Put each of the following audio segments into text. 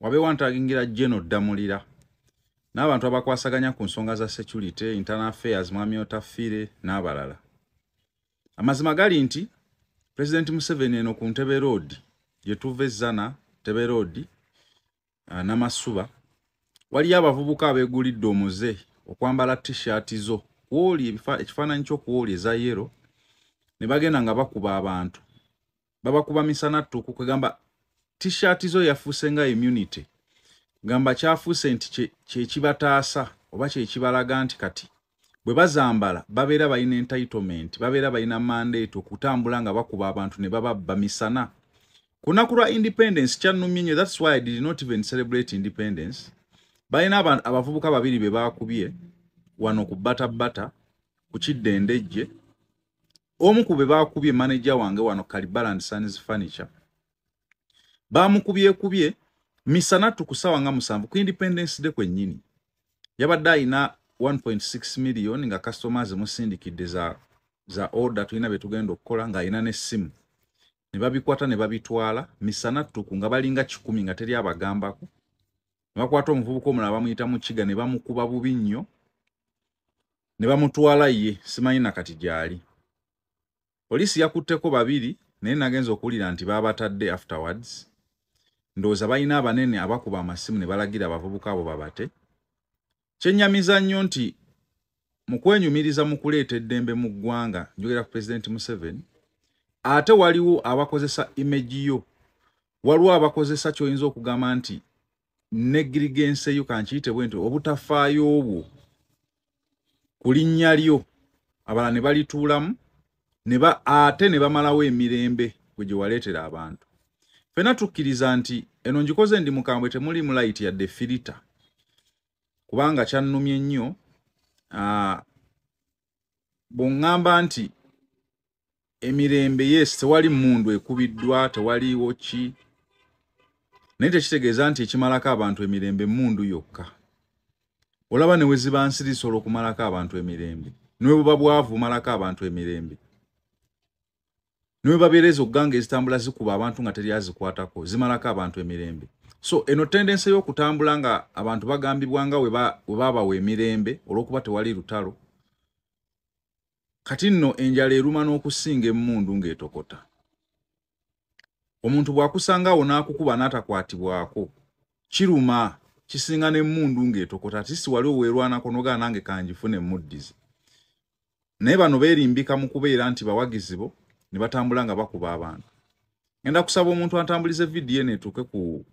wabeewo antagingira jeno ddamulira n'abantu abakwasaganya ku nsonga za security internal affairs mwami otafiire n'abalala amazima gali nti pulezidenti museveni eno ku ntebe roodi gye tuva ezzana ntebe roodi ah, namasuba waliyo abavubuka abeegulidde omuze okwambala t-shirt zo kwoli ekifaananyi kyokwoli eza yero ne bagenda nga bakuba abantu babakuba misana ttuku kwegamba t-shirt zo yafuuse nga immunity gamba kyafuuse nti kyekibataasa oba kyekibalaga nti kati bwe bazambala babeera balina entitlement babeera balina mandate okutambula nga bakuba abantu ne bababba misana kunaku lwa independence kyannumye nyo thats why i did not even celebrate independence balina abavubuka babiri be baakubye wano ku bata bata ku kidda endejje omu ku be baakubye maneja wange wano kalibaland sons furniture baamukubyekubye misana tukusawa nga musanvu ku independence de kwennyini yabadde alina 1.6 million nga customers musindikidde za, za order tulina bye tugenda okukola ng'alina n'essimu ne babikwata ne babitwala misana ttuku nga balinga kikumi nga teri abagambako ne bakwata omuvubuka omulala bamuyita mu kiga ne bamukuba bubi nnyo ne bamutwala ye simanyi na kati gyali poliisi yakutteko babiri naye nagenza okuwulira nti baabatadde afterwards ndowooza balina abanene abakuba amasimu ne balagira abavubuka abo babate Kyennyamiza nnyo nti mu kwenyumiriza mu kuleeta eddembe mu ggwanga njogera ku pulezidenti Museveni ate waliwo abakozesa imeji yo waliwo abakozesa ky'oyinza okugamba nti negirigense yo kankiyite bwe nti obutafaayo obwo ku linnya lyo abalala ne balituulamu ate ne bamalawo emirembe gwe gye waleetera abantu fena tukkiriza nti eno ngikoze ndi mukambwe temuli mulayiti yadde firita kubanga kyannumye nnyo ah, bw'oŋŋamba nti emirembe yes tewali mundu ekubiddwa tewaliwo ki naye tekitegeeza nti ekimalako abantu emirembe mundu yokka olaba ne weziba nsirisa olwokumalako abantu emirembe newebuba bwavu malako abantu emirembe newebabeereza okuganga ezitambula zikuba abantu nga teri azikwatako zimalako abantu emirembe so eno tendense y'okutambula nga abantu bagambibwa nga webabawa emirembe olwokuba tewali lutalo kati nno enjala eruma n'okusinga emmundu ng'etokota omuntu bwakusanga awo n'akukuba n'atakwatibwako kiruma kisinga n'emmundu ng'etokota ati si wali oweerwanako nogaa nange kangifuna emmuddizi naye bano beerimbika mu kubeera nti bawagizi bo ne batambula nga bakuba abantu ngenda kusaba omuntu antambulize vidiyo neetuuke ku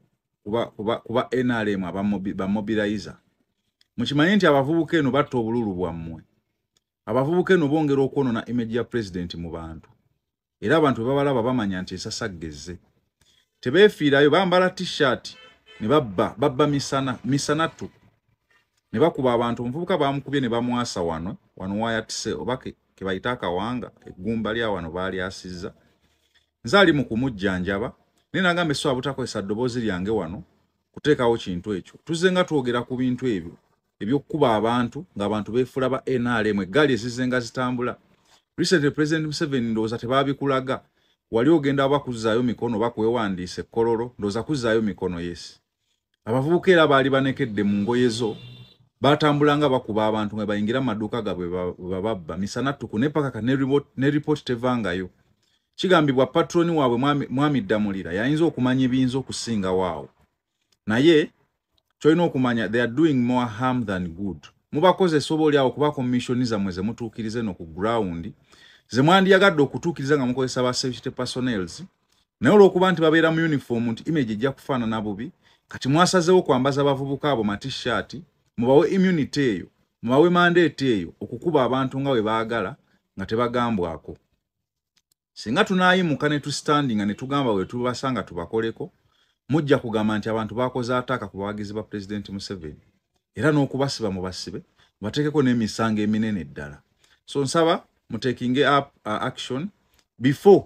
kuba, kuba, kuba nrm abamobilizer mukimanye nti abavubuka eno batta obululu bwammwe abavubuka eno bongera okwonona image ya pulezidenti mu bantu era abantu bwe babalaba bamanya nti ensasagga ezze tebeefiirayo bambala t-shirt ne babba babba misana misana tu ne bakuba abantu omuvubuka baamukubye ne bamwasa wano wano wayatise oba ke bayita akawanga eggumba lya wano baalyasizza nze ali mu kumujjanjaba naye nagamba eswa butakozesa ddoboozi lyange wano kuteekawo kintu ekyo tuzze nga twogera ku bintu ebyo ebyokukuba abantu ng'abantu beefula ba nrm eggaali ezizenga zitambula recently president museveni ndowooza tebaabikulaga wali ogenda oba kuzzaayo mikono oba kwewandiisa ekkololo ndowooza kuzzaayo mikono yes abavubuka era baali banekedde mu ngoye zo baatambulanga bakuba abantu nga bayingira mu maduuka gabwe bababba misana tuku ne paka ka ne ripooti tevangayo kigambibwa patroni waabwe mwami ddamulira yayinza okumanya ebiyinza okusinga waawo naye kyolina okumanya they are doing more harm than good mubakozesa oba olyawo kuba kommissioni zammwe zemutuukiriza eno ku ground zemwandiyagadde okutuukiriza nga mukozesa ba safety personels naye olwokuba nti babeera mu uniform nti image ejja kufaanana bubi kati mwasazewo kwambaza abavubuka abo matishaati mubawe immunity eyo mubawe mandeeti eyo okukuba abantu nga bwe baagala nga tebagambwako singa tunayimuka ne tustandinga ne tugamba we tubasanga tubakoleko mujja kugamba nti abantu bakoze ataaka ku bawagizi ba pulezidenti museveni era n'okubasiba mu basibe bateekeko n'emisango eminene ddala so nsaba mutekinge up uh, action before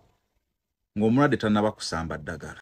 ng'omulwadde tannaba kusamba ddagala